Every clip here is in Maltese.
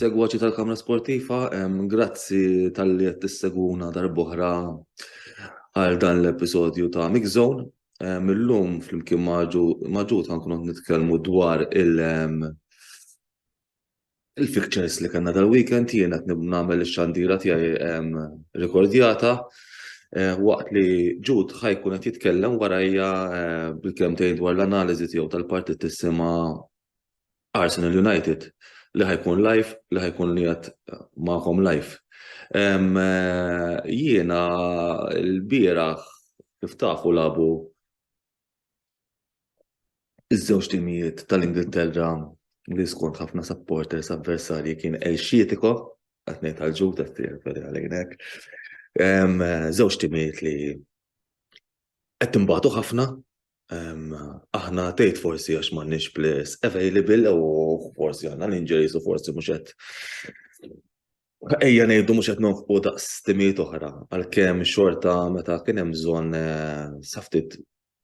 Segwaċi tal-Kamra Sportiva, grazzi tal-li qed tisseguna darbohra għal dan l-episodju ta' Mix Zone. Millum flimkien maġu ta' nkunu nitkellmu dwar il- Il-fixtures li kellna dal-weekend jien qed nagħmel ix-xandira tiegħi rikordjata waqt li Ġud ħajkun qed jitkellem warajja bil-kelmtejn dwar l-analiżi tiegħu tal-partit tisimha Arsenal United li ħajkun live li ħajkun qiegħed magħkom live. Jiena l-bieraħ kif tafu labu Iż-żewġ timijiet tal-Ingilterra li skont ħafna supporters avversarji kien Elxietiko, qed ngħid għal ġud qed tirreferi għalejn hekk. Żewġ timijiet li qed tinbagħtu ħafna. Aħna tgħid forsi għax m'għandniex players available u forsi għandna l-injuries u forsi mhux qed Ejja ngħidu mhux qed nonfqu daqs timijiet oħra, għalkemm xorta meta kien hemm bżonn eh, saftit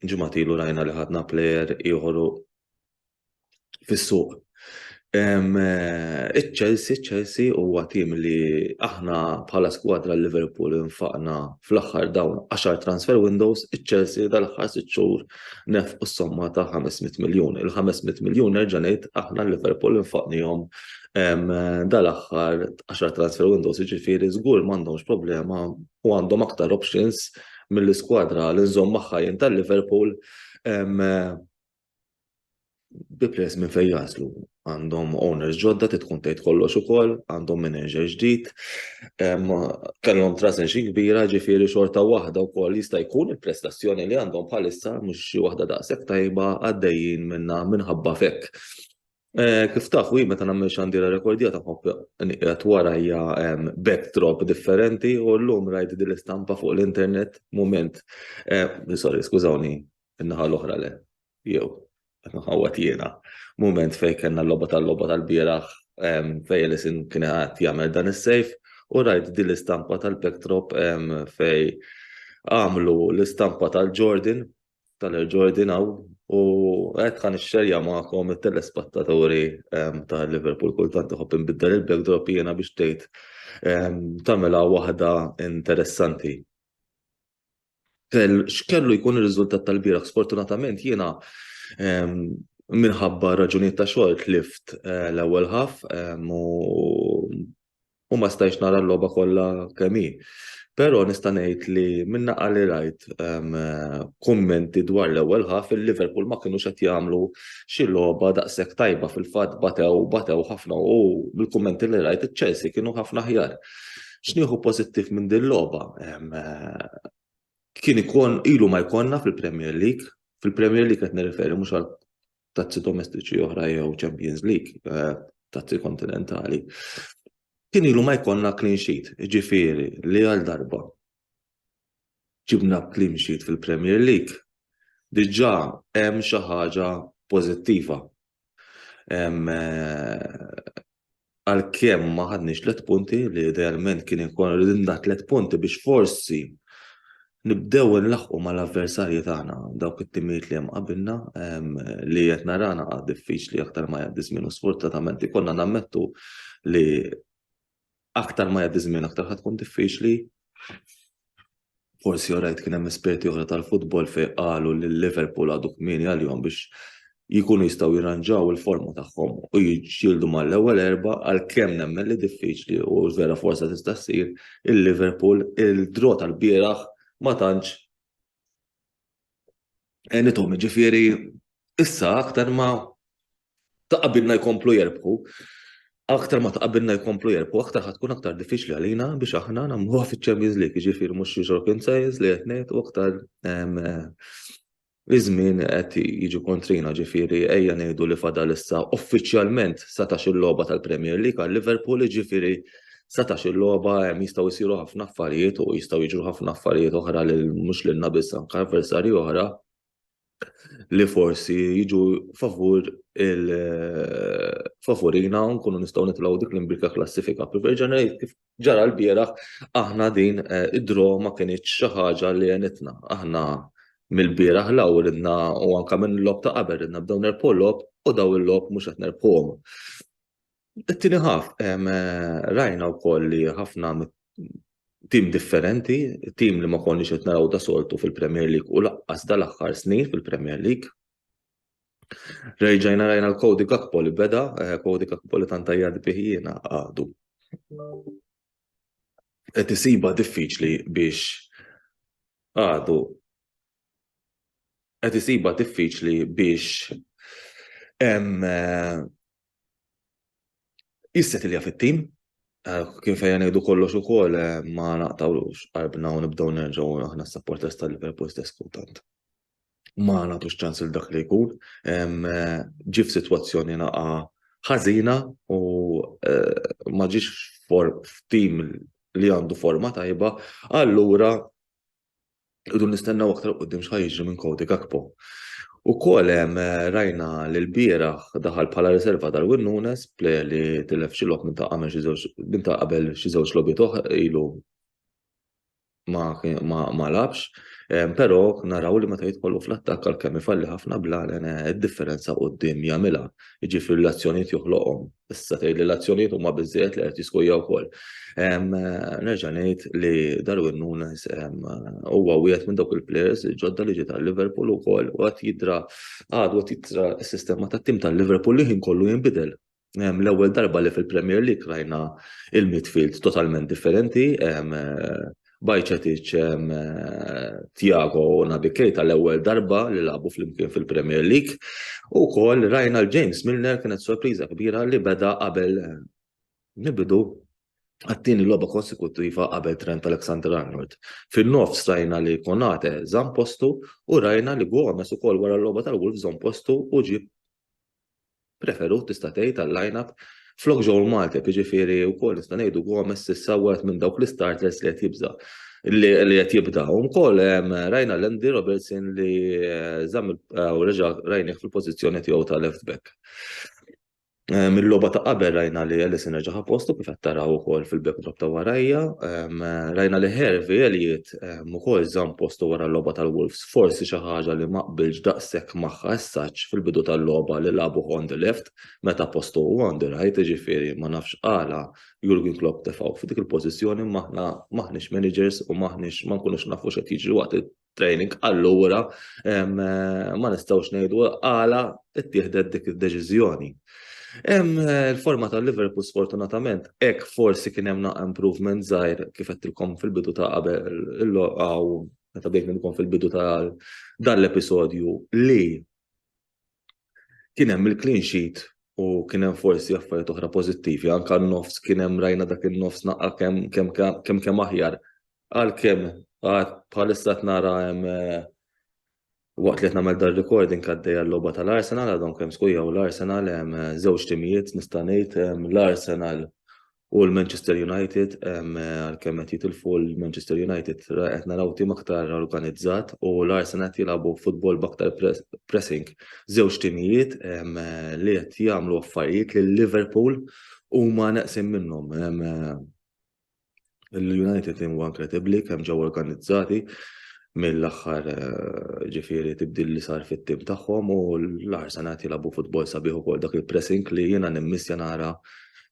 ġimatilu rajna li ħadna plejer ieħor fis-suq. Eh, Iċ-Chelsea, Chelsea huwa tim li aħna bħala skwadra Liverpool infaqna fl-aħħar dawn 10 transfer windows, iċ-Chelsea dal-aħħar sitt xhur nef u somma ta' 500 miljun. Il-500 miljun nerġa' ngħid aħna Liverpool infaqnihom dal-aħħar 10 transfer windows, jiġifieri żgur m'għandhomx problema u għandhom aktar options mill-iskwadra li nżomm magħha jien tal-Liverpool bi pres minn fejn jaslu. Għandhom owners ġodda titkun tgħid kollox ukoll, għandhom manager ġdid, kellhom trasen xi kbira ġifieri xorta waħda wkoll jista' jkun il-prestazzjoni li għandhom bħalissa mhux xi waħda daqshekk tajba għaddejjin minnha minħabba fekk. Kif tafu, jien meta nagħmel xandira rekordjata ħobb nieqgħed wara hija backdrop differenti u llum rajt din l-istampa fuq l-internet mument. Sorry, skużawni, in-naħa l-oħra le. Jew, qed nħawwad jiena. Mument fejn kellna l-logħba tal-logħba tal-bieraħ fejn Ellison kien qed jagħmel dan is-save u rajt din l-istampa tal-backdrop fejn għamlu l-istampa tal-Jordan tal-ġordin għaw u għed għan xerja maħkom il-telespattaturi ehm, ta' Liverpool kultant uħob nbiddel il-backdrop jena biex tgħid ehm, tamela waħda interessanti. X'kellu jkun ir-riżultat tal-biraħ? Sfortunatament jiena ehm, minħabba raġunijiet ta' xogħol tlift eh, l-ewwel ħaf u u ma stajtx nara l-logħba kollha kemm hi. Però nista' ngħid li min-naqqa li rajt ehm, kummenti dwar l-ewwel ħaf il-Liverpool ma kinux qed jagħmlu xi logħba daqshekk tajba fil-fatt batew batew ħafna u mill-kummenti li rajt iċ-Chelsea kienu ħafna ħjar. X'nieħu pożittiv minn din logħba? Ehm, kien ikun ilu ma jkollna fil-Premier League, fil-Premier League qed nirreferi mhux għal tazzi domestiċi oħra jew Champions League, eh, tazzi kontinentali. Kien ilu ma jkollna clean sheet, ġifiri li għal darba ġibna clean sheet fil-Premier League, diġa hemm xi ħaġa pożittiva. Eh, għalkemm ma ħadniex tliet punti li idealment kien ikun ridinna tliet punti biex forsi nibdew nlaħqu mal-avversarji tagħna dawk it-timijiet li hemm qabilna li qed narana għad diffiċli aktar ma jgħaddi żmien u sfortunatament ikollna nammettu li aktar ma jgħaddi żmien aktar ħad tkun diffiċli. forsi orajt kien hemm esperti oħra tal-futbol fejn qalu li Liverpool għadu kmieni għalihom biex jikunu jistgħu jirranġaw il-forma tagħhom u jiġġieldu mal-ewwel erba għal kemm nemmen li diffiċli u vera forsa tista' ssir il-Liverpool il-draw tal-bieraħ ma tantx Enitom, ġifiri, issa aktar ma taqabilna jkomplu jerbħu, aktar ma taqabilna jkomplu jerbħu, aktar ħatkun aktar diffiċli għalina biex aħna namluħa fi Champions League, ġifiri mux European Sales li għetnet u aktar Iż-żmien qed jiġu kontrina ġifieri ejja ngħidu li fadal issa uffiċjalment satax il-logħba tal-Premier League għal Liverpool ġifieri setax il-logħba hemm jistgħu jsiru ħafna affarijiet u jistgħu jiġru ħafna affarijiet oħra li mhux lilna biss anke avversarji oħra li forsi jiġu favur il favorina u nkunu nistgħu nitlgħu dik l-imbika klassifika. Preverġana kif ġara l-bieraħ aħna din eh, id-dro ma kienx xi ħaġa li għenitna. Aħna mill-bieraħ law ridna u anke minn lob ta' qabel ridna bdew nerpu lob u daw il-lob mhux qed nerpuhom. It-tieni ħaf, rajna wkoll li ħafna tim differenti, tim li ma konniex qed naraw da soltu fil-Premier League u laqqas dal-aħħar snin fil-Premier League. Rejġajna rajna l-Cody Gakpo li beda, Cody Gakpo li tant tajjad bih jiena għadu. Qed isiba diffiċli biex għadu qed isiba diffiċli biex Jissetilja fit-tim, eh, kien fejja ngħidu kollox ukoll eh, ma naqtawlux qalbna u nibdew nerġgħu aħna s-supporters tal-Liverpool stess kultant. Ma nagħtux ċans il dak li jkun, eh, ġif f'sitwazzjoni naqa ħażina u ma ġiex f'tim li għandu forma tajba, allura Idu nistennaw aktar qoddim xħaj jiġri minn Kodi Gakpo. U kol eh, rajna li l-bieraħ daħal bħala riserva Darwin Nunes, plejer li tilef xilok minn ta' għamel minn ta' qabel xi żewġ logħbiet oħra ilu ma labx, eh, però naraw li meta jitkollu fl-attakk għal kemm ifalli ħafna bla eh, id-differenza qudiem jagħmilha, jiġifieri l-azzjonijiet joħloqhom Issa tgħid li l-azzjonijiet huma biżżejjed li qed jiskujja wkoll. Nerġa' ngħid li Darwin Nunes huwa wieħed minn dawk il-players ġodda li ġie tal-Liverpool ukoll u qed jidra għad qed jidra s-sistema tat-tim tal-Liverpool li ħin kollu jinbidel. L-ewwel darba li fil-Premier League rajna il-midfield totalment differenti, Bajcetic, Thiago u Naby Keita l-ewwel darba li lagħbu flimkien fil-Premier League. U wkoll rajna l-James Milner kienet sorpriża kbira li beda qabel nibidu għattini logħba konsekuttiva qabel Trent Alexander-Arnold. Fin-nofs rajna li Konate żamm postu u rajna li Gomez ukoll wara l-logħba tal-Wolves żamm postu u ġieb preferut tista' tgħid għall-lineup flok Joel Matip, jiġifieri wkoll nista' ngħidu Gomez issa wieħed minn dawk l-istarters li qed jibża' li qed jibda. U wkoll rajna l-Andy Robertson li żamm u reġa' rajnih fil-pożizzjoni tiegħu ta' left back. Mill-logħba ta' qabel rajna li Ellison reġa' ħa postu kif qed taraw ukoll fil-backdrop ta' warajja. Rajna li Hervey Elliott Impact ukoll żamm postu wara l-logħba tal-Wolves, forsi xi ħaġa li ma qbiltx daqshekk magħha as-such fil-bidu tal-logħba li lagħbuh on the left meta postu hu on the right, jiġifieri ma nafx għala Jurgen Klopp tefgħu f'dik il-pożizzjoni imma aħna m'aħniex managers u m'aħniex ma nkunux nafu x'qed jiġri waqt training allura ma nistgħux ngħidu għala ttieħdet dik id-deċiżjoni. Hemm eh, il-forma ta' Liverpool sfortunatament, hekk forsi kien hemm naqqa improvement żgħir kif qedtilkom fil-bidu ta' qabel il-loqgħu meta bdejt nilkom fil-bidu ta' dan l-episodju li kien hemm il-clean sheet u kien hemm forsi affarijiet oħra pożittivi, anka n-nofs kien hemm rajna dak in-nofs naqqa kemm kemm kemm kemm aħjar. Għalkemm għad bħalissa qed nara hemm eh, Waqt li qed nagħmel dan recording għaddejja l-logħba tal-Arsenal għadhom kemm skujjaw l-Arsenal hemm eh, żewġ timijiet nista' ngħid l-Arsenal u l-Manchester United eh, għalkemm qed jitilfu l-Manchester United qed naraw tim aktar organizzat u l-Arsenal qed jilagħbu futbol b'aktar pressing. Żewġ timijiet eh, li qed jagħmlu affarijiet li Liverpool huma neqsin minnhom. l-United in One Credibbli kemm ġew organizzati mill-aħħar eh, ġifieri tibdil li sar fit-tim tagħhom u l-Arsenal qed jilagħbu futbol sabiħ ukoll dak il-pressing li jiena nimmissja nara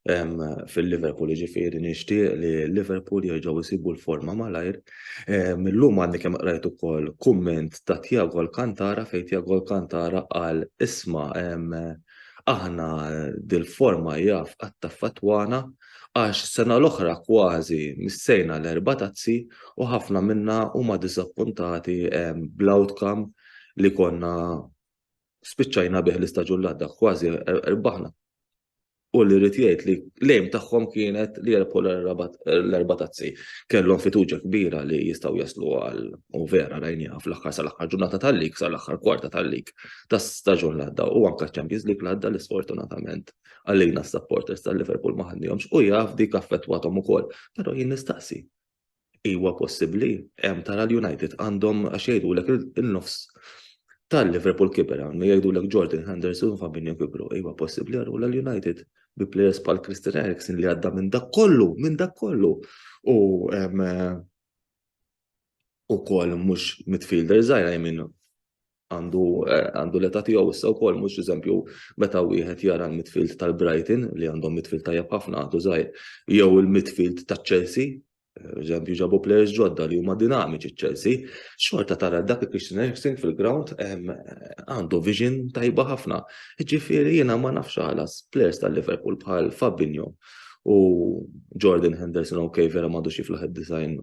fil-Liverpool ġifieri nixtieq li Liverpool jerġgħu jsibu l-forma malajr. Millum għandi kemm qrajt ukoll kumment ta' Tiago Alcantara fejn Tiago Alcantara qal isma' aħna dil-forma jaf għatta fatwana għax s-sena l-oħra kważi missejna l-erba' tazzi u ħafna minna huma diżappuntati bl-outcome li konna spiċċajna bih l-istaġun li għadda kważi rbaħna. U li rrid jgħid li l-aim tagħhom kienet li jerbħu l-erba' tazzi. Kellhom fiduċja kbira li jistgħu jaslu għal u vera rajniha fl-aħħar sal-aħħar ġurnata tal-lig, sal-aħħar kwarta tal-lig tas-staġun li għadda u anke ċ-Champions League li għadda li sfortunatament Għalilna s-supporters tal-Liverpool ma ħannihomx u jaf dik affettwathom ukoll. Però jien nistaqsi. Iwa possibbli, hemm tara l-United għandhom għax jgħidulek il-nofs tal-Liverpool kiber għandu jgħidulek Jordan Henderson u Fabinho kibru. Iwa possibbli għarru l-United bi players pal Christian Eriksen li għadda minn dak kollu, minn dak kollu. U u kol mux midfielder zaħira jminu għandu għandu l-età tiegħu issa wkoll mhux eżempju meta wieħed jara l-midfield tal-Brighton li għandhom midfield tajjeb ħafna għadu żgħir jew il-midfield taċ-Chelsea eżempju ġabu players ġodda li huma dinamiċi ċ-Chelsea, xorta tara dak il-Christian Eriksen fil-ground għandu vision tajba ħafna. Ġifieri jiena ma nafx ħalas players tal-Liverpool bħal Fabinho u Jordan Henderson ok vera m'għadux jiflaħ id-design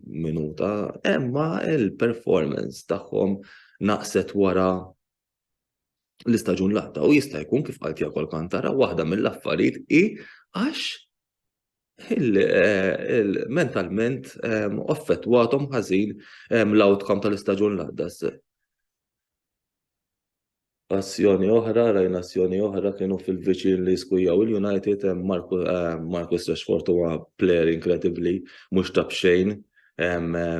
minuta, imma il-performance tagħhom naqset wara l-istaġun latta u jista' jkun kif qalt Jakol Kantara waħda mill-affarijiet hi għax eh, mentalment ehm, offettwatom ħażin ehm, l-outcome tal-istaġun l-għaddas. Azzjoni oħra, rajna azzjoni oħra kienu fil-viċin li skujjaw il-United, Marcus Rashford huwa player inkredibbli, mhux ta' b'xejn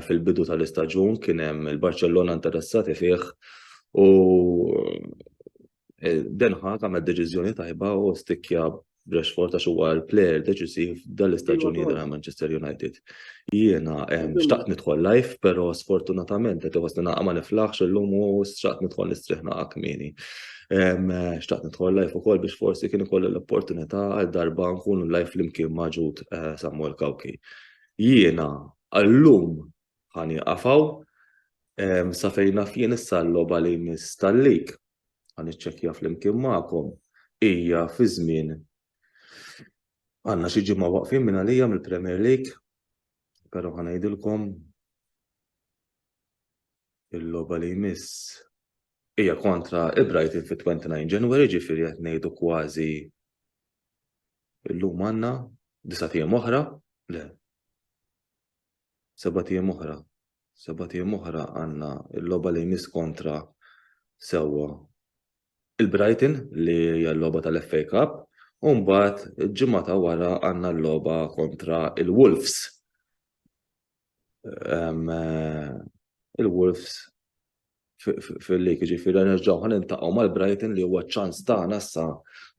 fil-bidu tal-istaġun kien hemm il-Barċellona interessati fih u Den Haag għamel deċiżjoni tajba u stikkja Rashford għax huwa l-player deċisiv dal-istaġuni dal Manchester United. Jiena xtaqt nidħol live, però sfortunatament qed iħossni naqa' ma niflaħx illum u xtaqt nidħol nistrieħ naqa' kmieni. Xtaqt nidħol live ukoll biex forsi kien ikollu l-opportunità għal darba nkunu live flimkien maġud eh, Samuel Kawki. Jiena għallum ħani qafaw sa fejna fien issa l-loba li mistallik ħa niċċekkja flimkien magħkom, hija fi żmien għandna xi ġimgħa waqfin minn għalija mill-Premier League, però ħa ngħidilkom il-logħba li jmiss hija kontra il-Brighton fit-29 January ġifieri qed ngħidu kważi illum għandna disa' tiem oħra, le. sebat ijiem oħra. Sebat ijiem oħra għandna l-logħba li jmiss kontra sewwa il-Brighton li hija l-logħba tal-FA Cup u mbagħad il-ġimgħa ta' wara għandna l-logħba kontra il-Wolves. Eh, Il-Wolves fil-lig, ġifiri nerġaw ħan intaqaw mal-Brighton li huwa ċans ta' nassa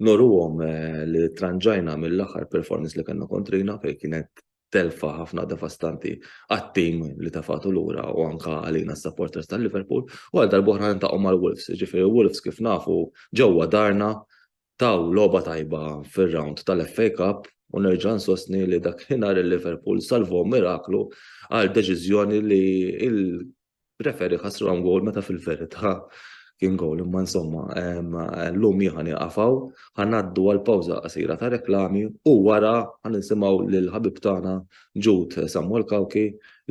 noruhom eh, li tranġajna mill-aħħar performance li kellna kontrina fej kienet telfa ħafna devastanti għat-tim li tafatu lura u anka għalina s-supporters tal-Liverpool u għal darbohra nintaqgħu mal-Wolves, ġifiri Wolves kif nafu ġewwa darna taw loba tajba fir-round tal-FA Cup u nerġa' nsostni li dak ħinar il-Liverpool salvom miraklu għal deċiżjoni li Referi ħasruhom gowl meta fil-verità kien gowl imma insomma llum jieħa nieqaf hawn ħa ngħaddu għal pawża qasira ta' reklami u wara ħa nisimgħu lil ħabib tagħna Ġud Samuel Cauchi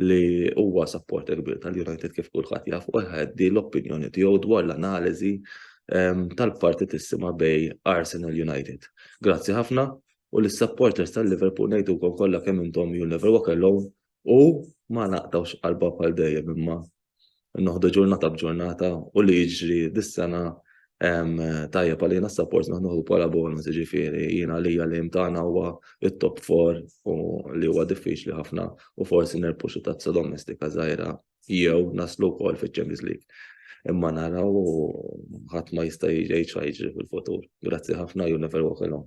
li huwa supporter kbir tal-United kif kulħadd jaf u jħeddi l-opinjoni tiegħu dwar l-analiżi tal-partitissima bej Arsenal United. Grazzi ħafna u lis-supporters tal-Liverpool ngħidulkom kollha kemm intom you'll never walk alone U ma naqtgħux qalbha bħal dejjem imma noħdu ġurnata b'ġurnata u li jiġri dis-sena tajjeb għalina s-sapport naħduh bħala bonus ġifieri jien għalija l-aim tagħna huwa t-top four u li huwa diffiċli ħafna u forsi nerbħu xi tazza domestika żgħira jew naslu wkoll fiċ-Champions League. Imma naraw u ħadd ma jista' jgħid xi jiġri fil-futur. Grazzi ħafna, you never walk alone.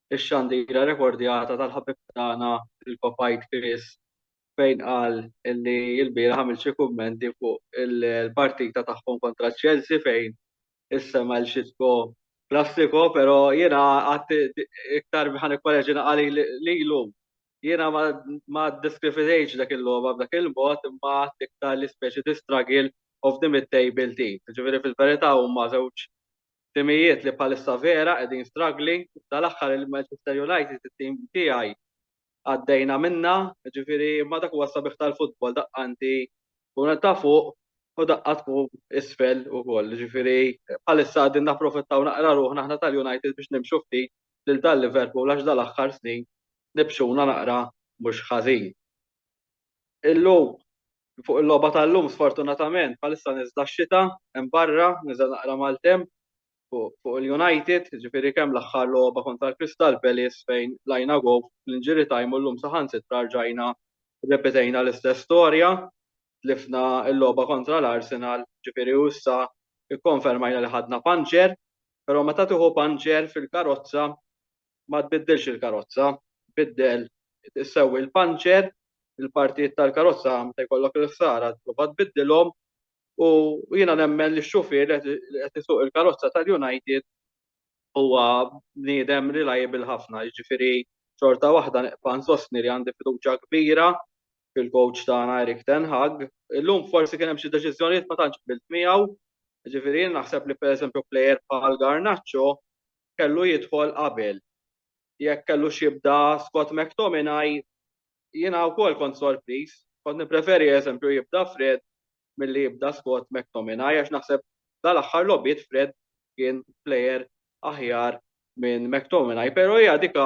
ix-xandira rekordjata tal-ħabib tagħna il-Kopajt Chris fejn qal li l-bieraħ għamel xi kummenti fuq il-partita tagħhom kontra Chelsea fejn issema' l xitko klassiko, pero jiena għad iktar ħan ikkoreġina għali li l-lum. Jiena ma diskrifitejx dak il-logħba b'dak il-mod imma għad iktar l-ispeċi di struggle of the mid-table team. Ġifieri fil-verità huma żewġ Timijiet li bħalissa vera qegħdin struggling, dal-aħħar il-Manchester United it-tim tiegħi għaddejna minnha, jiġifieri imma dak huwa s-sabiħ tal-futbol daqqa inti tkun qed ta' fuq u daqqa tkun isfel ukoll, jiġifieri bħalissa qegħdin napprofittaw naqra ruħna aħna tal-United biex nimxu ftit lil dal-Liverpool għax dal-aħħar snin nibxuna naqra mhux ħażin. Illum fuq il-logħba tal-lum sfortunatament bħalissa niżla x-xita hemm barra, niżel naqra maltemp fuq il-United, ġifieri kemm l-aħħar logħba kontra l-Crystal Palace fejn lajna gow fl-injury time u llum saħansitra rġajna rrepetejna l-istess storja, tlifna l-logħba kontra l-Arsenal, ġifieri u issa kkonfermajna li ħadna puncher, però meta tieħu puncher fil-karozza ma tbiddilx il-karozza, biddel sewwi l-panċer, il-partijiet tal-karozza meta jkollok il-ħsara tipprova tbiddilhom u jiena nemmen li x-xufier li qed isuq il-karozza tal-United huwa bniedem reliable ħafna, jiġifieri xorta waħda nibqa' nsostni li għandi fiduċja kbira fil-coach tagħna Erik ten Hag. Illum forsi kien hemm xi deċiżjonijiet ma tantx qbilt miegħu, jiġifieri jien naħseb li pereżempju plejer bħal Garnacho kellu jidħol qabel. Jekk kellux jibda Scott McTominay, jiena wkoll kont sorpriż. Kont nippreferi eżempju jibda Fred milli jibda Scott McTominay għax naħseb dal-aħħar logħbiet Fred kien plejer aħjar minn McTominay. Però hija dik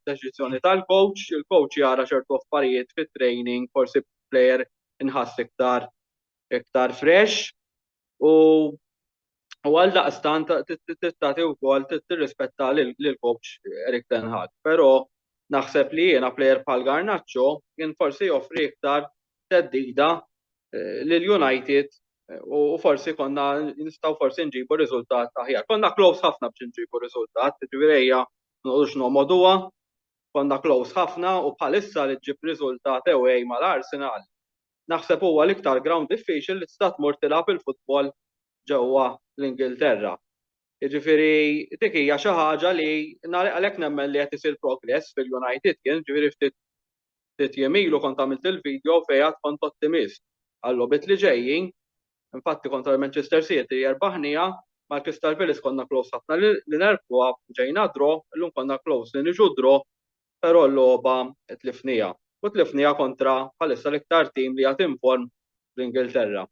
deċiżjoni tal-coach, il-coach jara ċertu affarijiet fit-training, forsi plejer inħass iktar iktar fresh. u U għal daqstan tagħti wkoll tirrispetta lil coach Erik Ten Hag. Però naħseb li jiena plejer bħal Garnacho kien forsi joffri iktar teddida eh, lil United eh, u forsi konna nistgħu forsi nġibu riżultat aħjar. Konna close ħafna biex nġibu riżultat, ġvirejja nqux nomoduha, konna close ħafna u bħalissa li ġib riżultat ewej mal-Arsenal naħseb huwa l-iktar ground diffiċli li tista' tmur tilgħab il-futbol ġewwa l-Ingilterra. Jiġifieri dik hija xi ħaġa li għalhekk nemmen li qed isir progress fil-United kien, ġifieri ftit ftit jiem ilu kont għamilt il-video fejn għad kont ottimist għal-logħbiet li ġejjin. Infatti kontra l-Manchester City erbaħniha, mal-Crystal Palace konna close ħafna li nerbħuha, ġejna draw, illum konna close li niġu draw però l-logħba tlifniha u tlifniha kontra bħalissa l-iktar tim li għad inform fl-Ingilterra.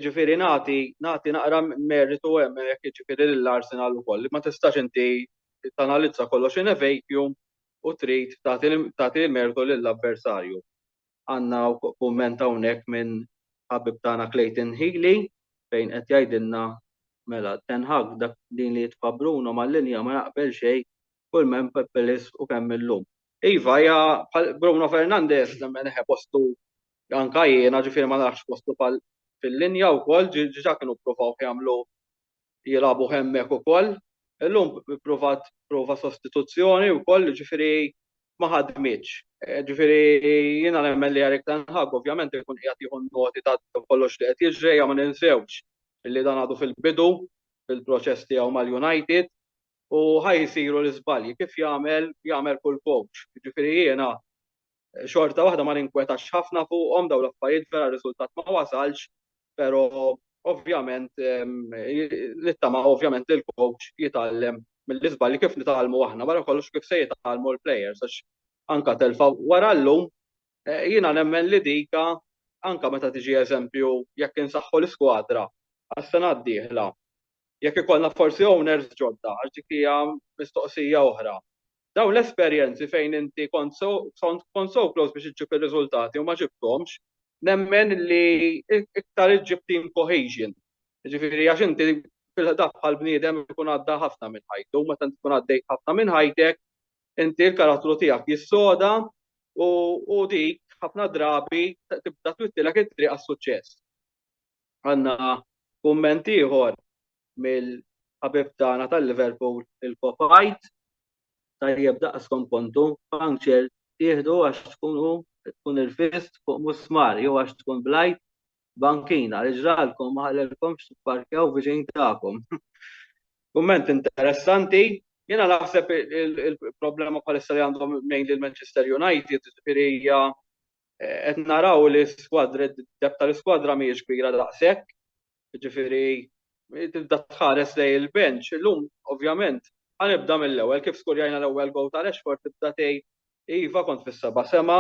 Ġifieri nagħti nagħti naqra merritu hemm hekk ġifieri lill-Arsenal ukoll. Ma tistax inti tanalizza kollox in a vacuum u trid tagħti l-mertu lill-avversarju. għandna kumment hawnhekk minn ħabib tagħna Clayton Healy fejn qed jgħidilna mela Ten Hag dak din li jitfa' Bruno mal-linja ma jaqbel xejn kull m'hemm Peppelis u kemm illum. Iva hija bħal Bruno Fernandes nemmen eħe postu anke jiena ġifieri ma narax postu fil-linja wkoll ġiġa kienu ppruvaw jagħmlu jilagħbu hemmhekk ukoll. Illum ippruvat prova sostituzzjoni wkoll, ġifieri ma ħadmitx. Ġifieri jiena nemmen li Erik Ten Hag ovvjament ikun qiegħed jieħu noti ta' kollox li qed jiġri, ejja ma ninsewx li dan għadu fil-bidu fil-proċess tiegħu mal-United u ħa jsiru l-iżbalji kif jagħmel jagħmel kull coach. Ġifieri jiena xorta waħda ma ninkwetax ħafna fuqhom daw l-affarijiet vera r-riżultat ma wasalx, però ovvjament nittama ovvjament li l-coach jitgħallem mill-iżbalji kif nitgħallmu aħna wara kollox kif se jitgħallmu l-plejers għax anka telfa wara llum eh, jiena nemmen li dika anka meta tiġi eżempju jekk insaħħu l-iskwadra għas-sena d-dieħla jekk ikollna forsi owners ġodda għax dik hija mistoqsija oħra Dawn l-esperjenzi fejn inti kont so kont kont so close biex iġġib ir-riżultati u ma ġibthomx, nemmen li iktar iġġib team cohesion. Jiġifieri għax inti fil-ħdan bħall-bniedem ikun għadda ħafna minn ħajtu u meta inti tkun għaddejt ħafna minn ħajtek, inti l-karattru tiegħek jissoda u u dik ħafna drabi tibda twittilek it-triq għas-suċċess. Għandna kumment ieħor mill-ħabib tagħna tal-Liverpool, il-Kopajt, Tajjeb daqskom kontu, puncture tieħdu għax tkunu tkun irfist fuq musmar jew għax tkun blajt bankina li ġralkom ma ħallelkomx tipparkjaw viċin tagħkom. Kumment interessanti, jiena naħseb il-problema bħalissa li għandhom lejn lil Manchester United, ġifieri hija qed naraw li skwadra d-deb tal-iskwadra mhijiex kbira daqshekk. Ġifieri tibda tħares lej il-bench, illum ovvjament ħanibda mill-ewwel kif skurjajna l-ewwel goal ta' Rashford tibda tgħid iva kont fis-seba' sema,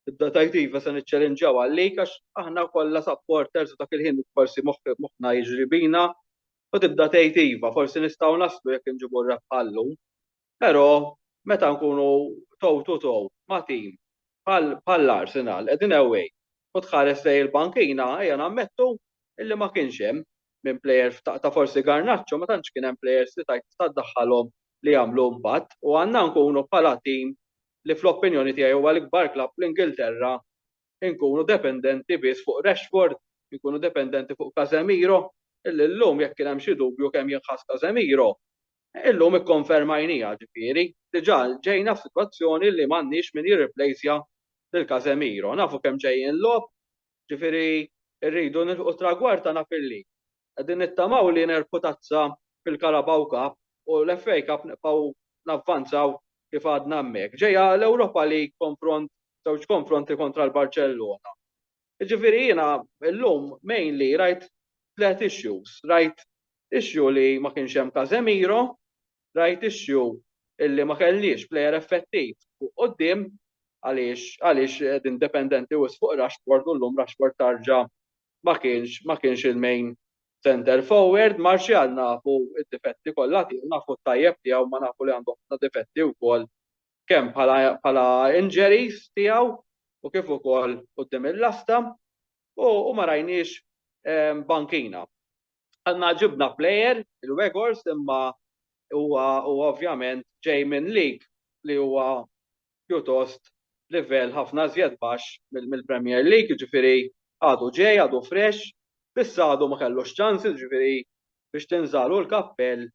tibda tgħid iva se niċċelinġjaw għalik għax aħna kollha supporters u dak il-ħin forsi moħħna jiġri bina u tibda tgħid iva forsi nistgħu naslu jekk inġibu r-rebħa llum. Però meta nkunu toe to toe ma' tim bħall-Arsenal qegħdin away u tħares lejn il-bankina ejja nammettu illi ma kienx hemm minn plejer ta' forsi Garnacho ma tantx kien hemm plejers li tgħid tista' ddaħħalhom li jagħmlu impatt u għandna nkunu bħala tim li fl-opinjoni tiegħi huwa l-ikbar klabb fl-Ingilterra nkunu dependenti biss fuq Rashford, nkunu dependenti fuq Casemiro illi llum jekk kien hemm xi dubju kemm jinħass Casemiro Illum ikkonfermajniha, ġifieri, diġà ġejna f'sitwazzjoni li m'għandniex min jirriplejsja lil Casemiro. Nafu kemm ġej jinlogħob, ġifieri rridu nilħqu t-tragward tagħna fil-lig. Qegħdin nittamaw li nerbħu tazza fil-Carabao Cup u l-FA Cup nibqgħu navvanzaw kif għadna hemmhekk. Ġejja l-Europa League konfront, żewġ konfronti kontra l-Barċellona. Jiġifieri jiena llum mainly rajt tliet issues, rajt issue li ma kienx hemm Casemiro, rajt issue illi ma kellniex plejer effettiv fuq quddiem għaliex għaliex qegħdin dependenti wisq fuq Rashford u llum Rashford tarġa' ma kienx ma kienx il-main center forward, Martial nafu d-difetti kollha tiegħu, nafu t-tajjeb tiegħu ma nafu li għandu ħafna difetti wkoll kemm bħala injuries tiegħu u kif ukoll quddiem il-lasta u ma rajniex Bankina. Għandna ġibna plejer, il-Wegors, imma huwa ovvjament ġej minn lig li huwa pjuttost livell ħafna żjed baxx mill-Premier League, jiġifieri għadu ġej, għadu fresh, biss għadu ma kellux ċansi, jiġifieri biex tinżagħlu l-kappell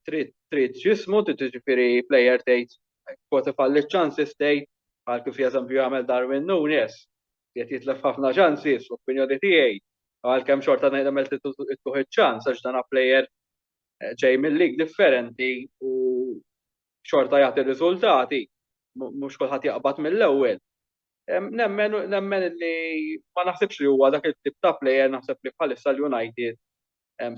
trid jismu, tiġifieri plejer tgħid kwoti falli ċansi stejt, għal kif jeżempju jagħmel Darwin Nunes, qed jitlef ħafna ċansi fl-opinjoni tiegħi, għalkemm xorta ngħid għamel tittuħ iċ-ċans għax dan plejer eh, ġej mill-lig differenti u xorta jagħti riżultati, mhux kulħadd jaqbad mill-ewwel. Nemmen li ma naħsibx li huwa dak it-tip ta' plejer naħseb li bħalissa l-United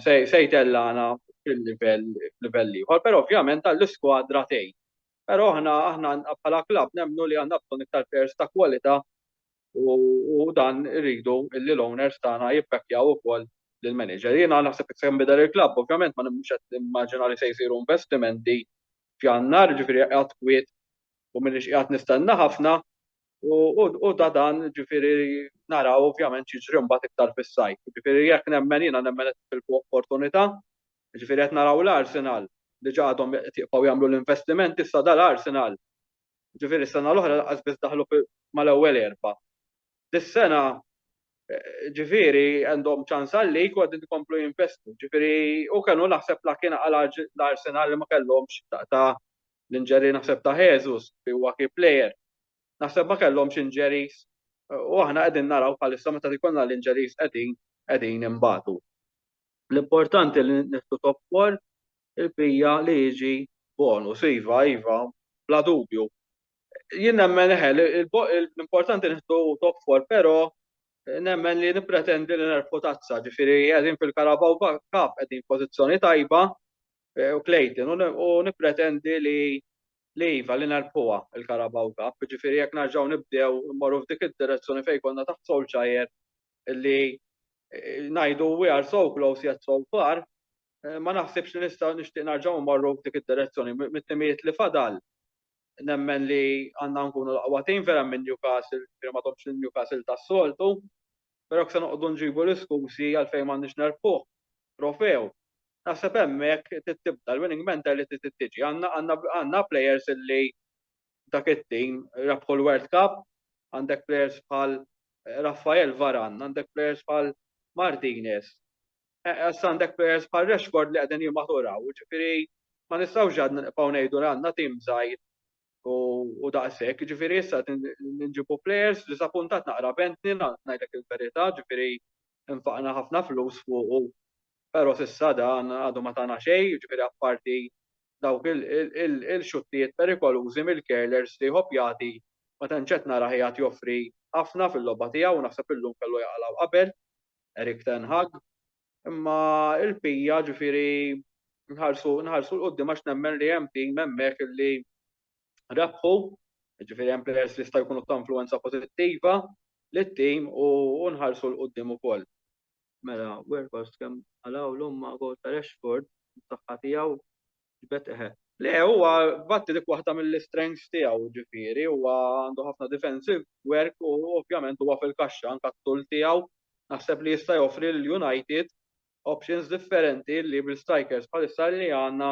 se jtellagħna fil-livell ieħor. Però ovvjament għall-iskwadra tgħin. Però aħna aħna bħala klabb nemmnu li għandna bżonn iktar players ta' kwalità u dan irridu li l-owners tagħna jibbekkjaw ukoll lill-manager. Jiena naħseb se jinbidel il-klabb, ovvjament ma mhux qed nimmaġina li se jsiru investimenti f'Jannar, ġifieri qiegħed kwiet u m'iniex qiegħed nistenna ħafna, U da dan ġifieri naraw ovvjament xiġri mbagħad iktar fis-sajf. Ġifieri jekk nemmen jiena nemmen qed tilfu opportunità, ġifieri qed naraw l-Arsenal li ġa għadhom qed jibqgħu jagħmlu l-investimenti issa dal-Arsenal. Ġifieri s-sena l-oħra lanqas biss daħlu mal-ewwel erba'. Dis-sena ġifieri għandhom ċans għalik u qegħdin ikomplu jinvestu. Ġifieri u kellu naħseb la kien għal l-Arsenal li ma kellhomx ta' l-injury naħseb ta' Jesus li huwa key player, naħseb ma kellhomx injuries u aħna qegħdin naraw bħalissa meta jkollna l-injuries qegħdin qegħdin inbatu. L-importanti li nieħdu top four il-bija li jiġi bonus, iva, iva, bla dubju. Jien nemmen eħe, l-importanti nieħdu top four, però nemmen li nipretendi li nerfu tazza, ġifiri għedin fil-Karabaw Cup, għedin pozizjoni tajba, u Clayton u nippretendi li li iva li nerbħuha il-Carabao Cup, jiġifieri jekk nerġgħu nibdew immorru f'dik id-direzzjoni fejn konna taħt Solskjaer li eh, ngħidu we are so close yet so far, eh, ma naħsibx li nistgħu nixtieq nerġgħu mmorru f'dik id-direzzjoni mit-timijiet li fadal nemmen li għandna nkunu l-aqwa tim vera minn Newcastle, jiġifieri ma domx il-Newcastle tas-soltu, però jekk se noqogħdu nġibu l-iskużi għalfejn m'għandniex nerbħuh trofew, naħseb hemmhekk trid tibda l-winning mentality trid tiġi. Għandna plejers illi dak it-tim rebħu l-World Cup, għandek plejers bħal Raphael Varane, għandek plejers bħal Martinez, Issa għandek players bħal Rashford li qegħdin jimmaturaw, ġifieri ma nistgħux għad nibqgħu ngħidu li għandna tim żgħir u daqshekk, ġifieri issa nġibu players li sapuntat naqra bentni ngħidlek il-verità, ġifieri nfaqna ħafna flus fuqu. Però s'issa dan għadu ma tagħna xejn, ġifieri apparti dawk il-xuttijiet perikolużi mill-curlers li jħobb jagħti ma tantx qed narah jagħti joffri ħafna fil-logħba tiegħu u naħseb illum kellu jaqalgħu qabel. Erik ten Hag, imma il-pija ġifieri nħarsu nħarsu l-qudiem għax nemmen li hemm tim hemmhekk li rebħu, ġifieri hemm players li jista' jkunu ta' influenza pożittiva lit-tim u nħarsu l-qudiem ukoll. Mela, Weghorst kemm qalawlu imma gol ta' Rashford, saħħa tiegħu, Le, huwa batti dik waħda mill-strengths tiegħu, ġifieri, huwa għandu ħafna defensive work u ovvjament huwa fil-kaxxa anke t-tul tiegħu. Naħseb li jista' joffri lil United options differenti li bil-strikers bħalissa li għandna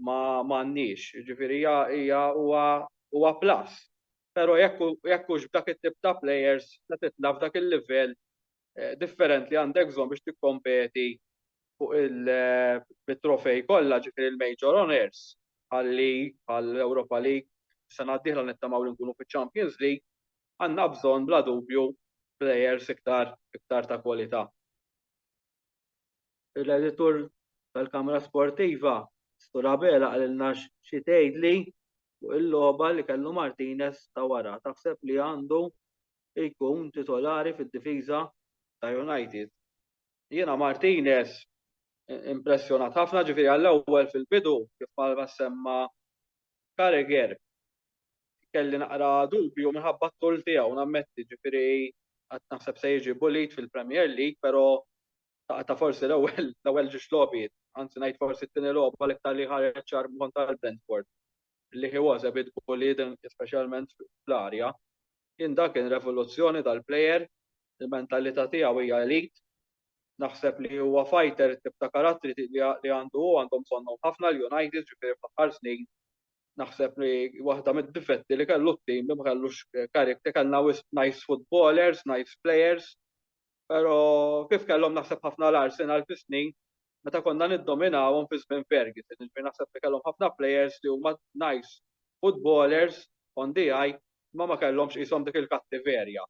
m'għandniex. Ġifieri hija huwa plus. Però jekk hux b'dak it-tip ta' players se titla' f'dak il-livell differenti għandek bżonn biex tikkompeti fuq il-trofej kollha ġifieri l-major honors għal-league, għall-Europa League, sena d-dieħla nittamaw li nkunu fiċ-Champions League, għandna bżonn bla dubju plejers iktar ta' kwalità. L-editur tal-Kamra Sportiva, Sur Abela qalilna xi tgħidli fuq il-logħba li kellu Martinez ta' wara. Taħseb li għandu jkun titolari fid-difiża ta' United. Jiena Martinez impressjonat ħafna, ġifieri għall-ewwel fil-bidu kif bħalma semma Carragher kelli naqra dubju minħabba t-tul tiegħu nammetti, ġifieri qatt naħseb se jiġi bullied fil-Premier League, però ta' forsi l-ewwel l-ewwel ġiex logħbiet, anzi ngħid forsi t-tieni logħba l-iktar li ħareġ ċar kontra l-Brentford li he was a bit bullied speċjalment fl-arja. Jien dak kien revoluzzjoni tal-player, il-mentalità tiegħu hija elite. Naħseb li huwa fighter it-tip ta' karattri li għandu hu għandhom bżonnhom ħafna l-United ġifieri fl-aħħar snin naħseb li waħda mid-difetti li kellu t-tim li ma kellux character kellna wisq nice footballers, nice players Pero kif kellhom naħseb ħafna l-Arsenal fi snin meta konna niddominawhom fi żmien Ferguson, ġifieri naħseb li kellhom ħafna players li huma nice footballers on the eye ma ma kellhomx qishom dik il-kattiverja.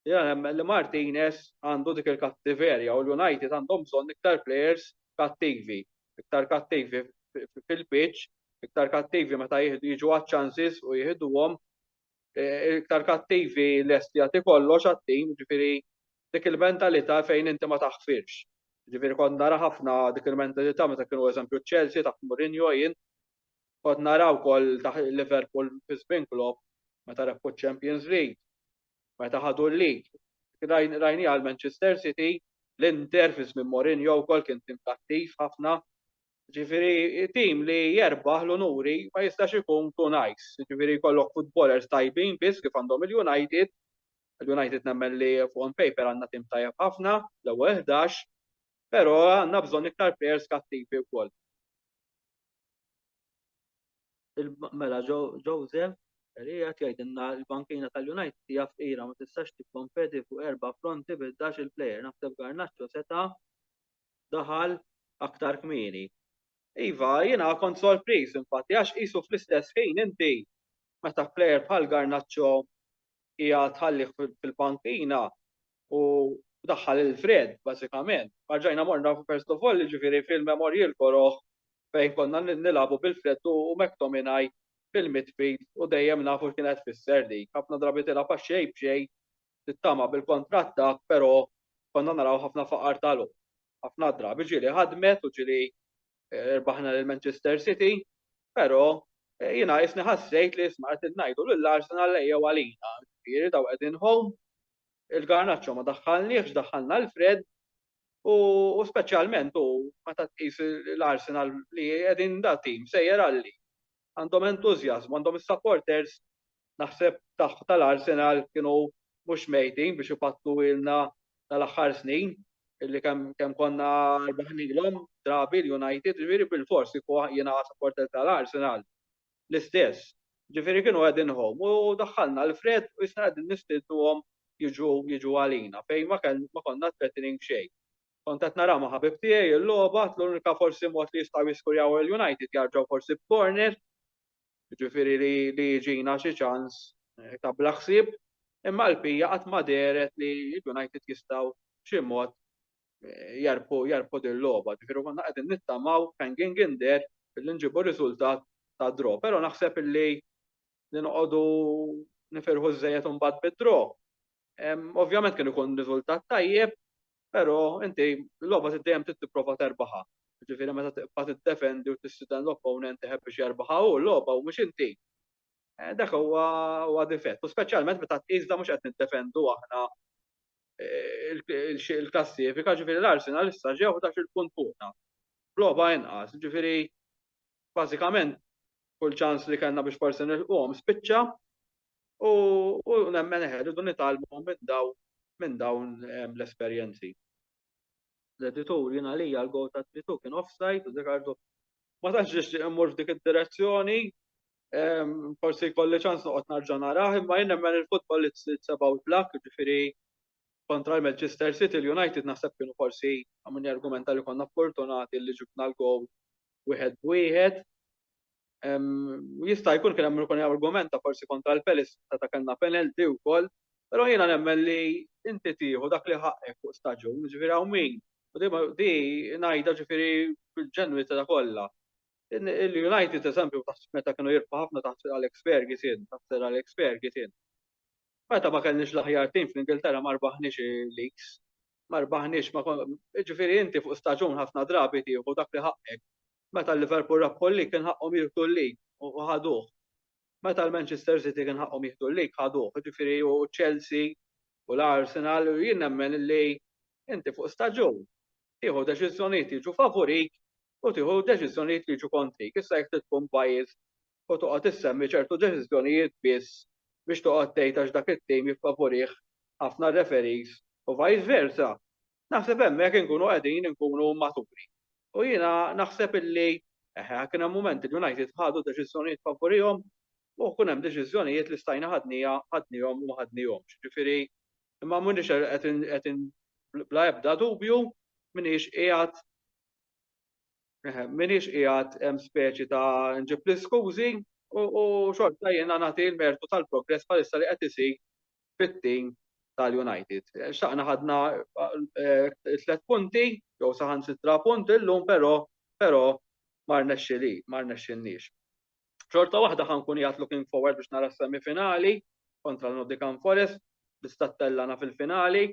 Jiena nemmen li Martinez għandu dik il-kattiverja u l-United għandhom bżonn iktar players kattivi, iktar kattivi fil-pitch, iktar kattivi meta jiġu għaċ-chances u jieħduhom iktar kattivi lesti jagħti kollox għat-tim, ġifieri dik il-mentalità fejn inti ma taħfirx. Ġifieri kont nara ħafna dik il-mentalità meta kienu eżempju Chelsea taħt Mourinho jien kont nara wkoll taħt Liverpool fi żmien Klopp meta rebħu Champions League, meta ħadu l-lig. Rajni għal Manchester City, l-Inter fi żmien Mourinho wkoll kien tim kattiv ħafna Ġifieri tim li jerbaħ l-unuri ma jistax ikun too nice. Ġifieri jkollok futbolers tajbin biss kif għandhom il-United. Il-United nemmen li on paper għandna tim tajjeb ħafna, l-ewwel ħdax, però għandna bżonn iktar players kattivi wkoll. Mela Jose, li qed jgħidilna l-bankina tal-United hija fqira ma tistax tikkompeti fuq erba' fronti bil-dax il-player. Naħseb Garnacho seta' daħal aktar kmieni. Iva, jiena kont sorpriż infatti għax qisu fl-istess ħin inti meta plejer bħal Garnaċċo hija tħallih fil-pankina u daħħal il-Fred, bażikament. Marġajna morna first of all, ġifieri fil-memorji l-koroħ fejn konna nilabu bil-Fred u McTominay fil-midfield u dejjem nafu x'kienet fisser dik. Ħafna drabi tilha paxxej b'xej tittama bil-kontrattak, pero konna naraw ħafna faqar talu. ħafna drabi ġili ħadmet u ġili eh, rbaħna l-Manchester City, pero eh, jina jisni ħassejt li jisma għet najdu l-Arsenal lejja għalina, ġiri daw għedin home, il-garnaċċo ma daħħalniex, daħħalna l-Fred, u specialment u meta tqis l-Arsenal li qegħdin da tim sejjer għalli. għandhom entużjażmu, għandhom is-supporters naħseb tal-Arsenal kienu mhux mejtin biex ipattu ilna tal-aħħar snin illi kemm konna rbaħnilhom drabi l-United, ġifieri bil-fors kieku jiena supporter tal-Arsenal l-istess. Ġifieri kienu qegħdin hom u daħħalna l-fred u jisna qegħdin nistiltuhom jiġu jiġu għalina fejn ma konna threatening xejn. Kont qed nara ma' ħabib tiegħi l-logħba, għedt l-unika forsi mod li jistgħu jiskurjaw il-United jarġgħu forsi b'corner, jiġifieri li jiġina xi ċans ta' bla ħsieb, imma għalpija qatt ma dehret li l-United jistgħu b'xi mod jarbħu din l-logħba, jiġifieri konna qegħdin nittamaw hanging in there billi nġibu riżultat ta' draw, però naħseb illi li noqogħdu nifirħu żżejjed imbagħad bid-draw. Ovvjament kien ikun riżultat tajjeb, Però inti l-logħba trid dejjem trid tipprova terbaħha. Ġifieri meta tibqa' tiddefendi u tissiden l-opponent iħebb biex jerbaħha hu l-logħba u mhux inti. Eh, dak huwa huwa difett, u speċjalment meta tqis da mhux qed niddefendu aħna eh, il-klassifika, ġifieri l-Arsenal issa ġew dax il-punt fuqna. Logħba inqas, ġifieri bażikament kull ċans li kellna biex forsi nilqhom spiċċa u nemmen eħe rridu nitgħallmu minn dawn minn dawn ehm, l-esperjenzi. L-editur jien għalija l-gow ta' tritu kien offside u Ricardo ma tantx nixtieq immur f'dik id-direzzjoni ehm, forsi jkolli ċans noqgħod narġa' narah, imma jien nemmen il-futbol li tsebaw blak, ġifieri kontra l-Manchester City, l-United naħseb kienu forsi għamuni argumenta li konna fortunati li ġibna l-gow wieħed b'wieħed. Jista' jkun kien hemm ikun argumenta forsi kontra l-Pelis ta' kellna penalty wkoll, però jiena nemmen li inti tieħu dak li ħaqqek fuq staġun, ġifieri hawn min, u di ngħidha ġifieri bil-ġenwinità kollha. Il-United eżempju meta kienu jirbħu ħafna taħt Alex Ferguson, taħt Sir Alex Ferguson, meta ma kellniex l-aħjar tim fl-Ingilterra ma rbaħniex il-leagues, ma rbaħniex ma konna, ġifieri inti fuq staġun ħafna drabi tieħu dak li ħaqqek. Meta l-Liverpool rabħu l-lig kien ħaqqhom jieħdu l-lig u ħaduh. Meta l-Manchester City kien ħaqqhom jieħdu l-lig ħaduh, jiġifieri u Chelsea u l-Arsenal u jien nemmen li inti fuq staġun tieħu deċiżjonijiet jiġu favurik u tieħu deċiżjonijiet li jiġu kontrik. Issa jekk tkun pajjiż u toqgħod issemmi ċertu deċiżjonijiet biss biex toqgħod tgħid għax dak it-tim jiffavurih ħafna referees u vice versa. Naħseb hemmhekk inkunu qegħdin inkunu maturi. U jiena naħseb illi eħe kien hemm mument li United ħadu deċiżjonijiet favurihom u kien hemm deċiżjonijiet li stajna ħadnija ħadnihom u ma ħadnihomx. Ġifieri imma m'iniex qed bla ebda dubju m'iniex qiegħed m'iniex qiegħed hemm speċi ta' nġib l-iskużi u xorta jiena nagħti l-mertu tal-progress bħalissa li qed isir fit-tim tal-United. Xtaqna ħadna tliet punti jew saħansitra punt illum però però ma rnexxili, ma rnexxilniex. Xorta waħda ħankun jgħat looking forward biex nara s-semifinali kontra l-Nottingham Forest biex tattellana fil-finali.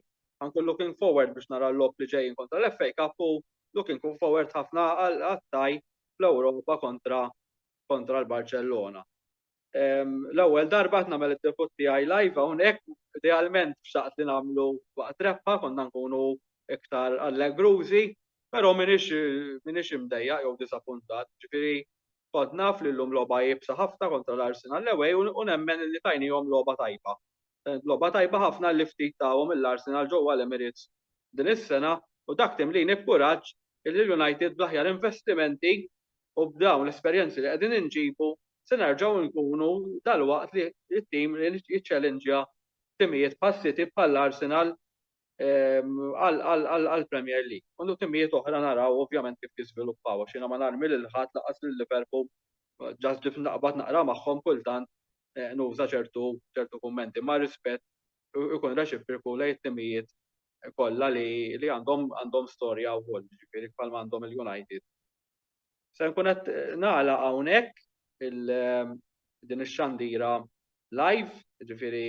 Ħankun looking forward biex nara l-lob li ġejjin kontra l-FA Cup u looking forward ħafna għal-attaj fl-Ewropa kontra kontra l-Barcellona. L-ewwel darba qed nagħmel id-debut tiegħi live hawnhekk, idealment xtaqt li nagħmlu waqt rebħa konna nkunu iktar allegrużi, però m'iniex m'iniex imdejjaq jew diżappuntat, ġifieri kont naf li llum logħba iebsa ħafna kontra l-Arsenal away u nemmen li tajniehom logħba tajba. Logħba tajba ħafna li ftit tahom lill-Arsenal ġewwa l-Emirates din is-sena u dak timlini b'kuraġġ li l-United bl-aħjar investimenti u b'dawn l-esperjenzi li qegħdin inġibu se nerġgħu nkunu dalwaqt li t-tim li jiċċellinġja timijiet bħal City bħal Arsenal għal Premier League. Undu timijiet oħra naraw ovvjament kif jiżviluppaw għax jiena ma narmi lil ħadd laqas lil Liverpool ġast ġif naqbad naqra magħhom kultant eh, nuża ċertu ċertu kummenti ma' rispett ikun reċipriku lejn timijiet kollha li għandhom għandhom storja wkoll, ġifieri bħalma għandhom il-United Se nkun qed nagħlaq hawnhekk din ix-xandira live, ġifieri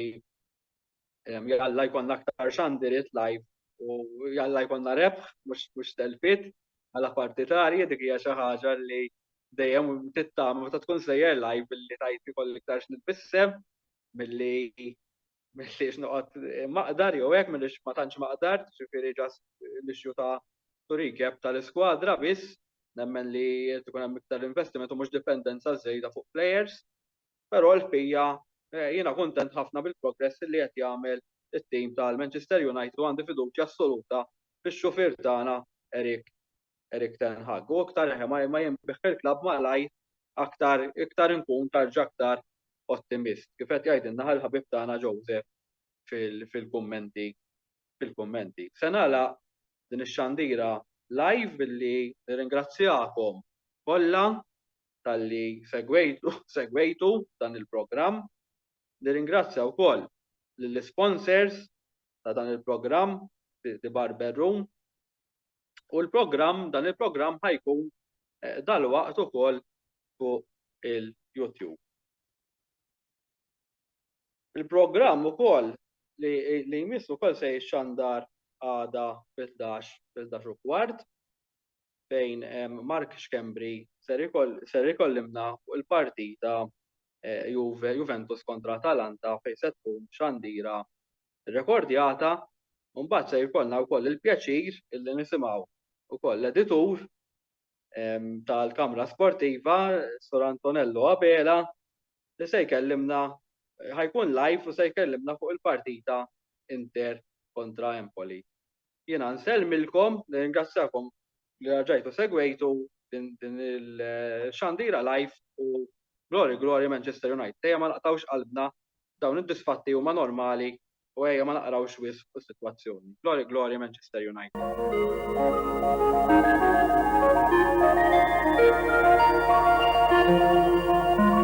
jalla jkollna aktar xandiriet live u jalla jkollna rebħ mhux telfit għala partitarji dik hija xi ħaġa li dejjem tittama meta tkun sejjer live billi tajt ikollok iktar x'nitbissem milli M'iniex noqgħod maqdar jew hekk, m'iniex ma tantx maqdar, ġifieri just l-issue ta' to recap tal-iskwadra biss, nemmen li jrid ikun hemm iktar investiment u mhux dipendenza żejda fuq players. Però l-bqija jiena kuntent ħafna bil-progress li qed jagħmel it-team tal-Manchester United u għandi fiduċja assoluta fix-xufier tagħna Eric Erik ten Hag. U iktar ma jinbih fil-klabb malajr aktar iktar inkun tarġa' aktar ottimist. Kif qed jgħidilna ħal-ħabib tagħna Joseph fil-kummenti fil-kummenti. Se nagħlaq din ix-xandira live billi nirringrazzjakom kollha talli segwejtu segwejtu dan il-programm. Nirringrazzja wkoll lill-sponsors ta' dan il-programm The Barber Room U l-programm, dan il-programm ħajkun dalwaqt ukoll fuq il-YouTube. Il-programm ukoll li jmiss ukoll se jixxandar għada fil-11 fil-11 u kwart fejn Mark Xkembri ser ikollimna fuq il-partita eh, Juventus kontra Atalanta fejn se tkun xandira rrekordjata u mbagħad se jkollna wkoll il-pjaċir illi nisimgħu wkoll l-editur tal-Kamra Sportiva, Sur Antonello Abela, li se jkellimna ħajkun live u se jkellimna fuq il-partita Inter kontra Empoli. Jiena nsellmilkom, nirringrazzjakom li raġajtu segwejtu din il-xandira live u Glory Glory Manchester United. Ejja ma naqtawx qalbna dawn id-disfatti huma normali u ejja ma naqrawx wis fuq is-sitwazzjoni. Glory Glory Manchester United. Thank you.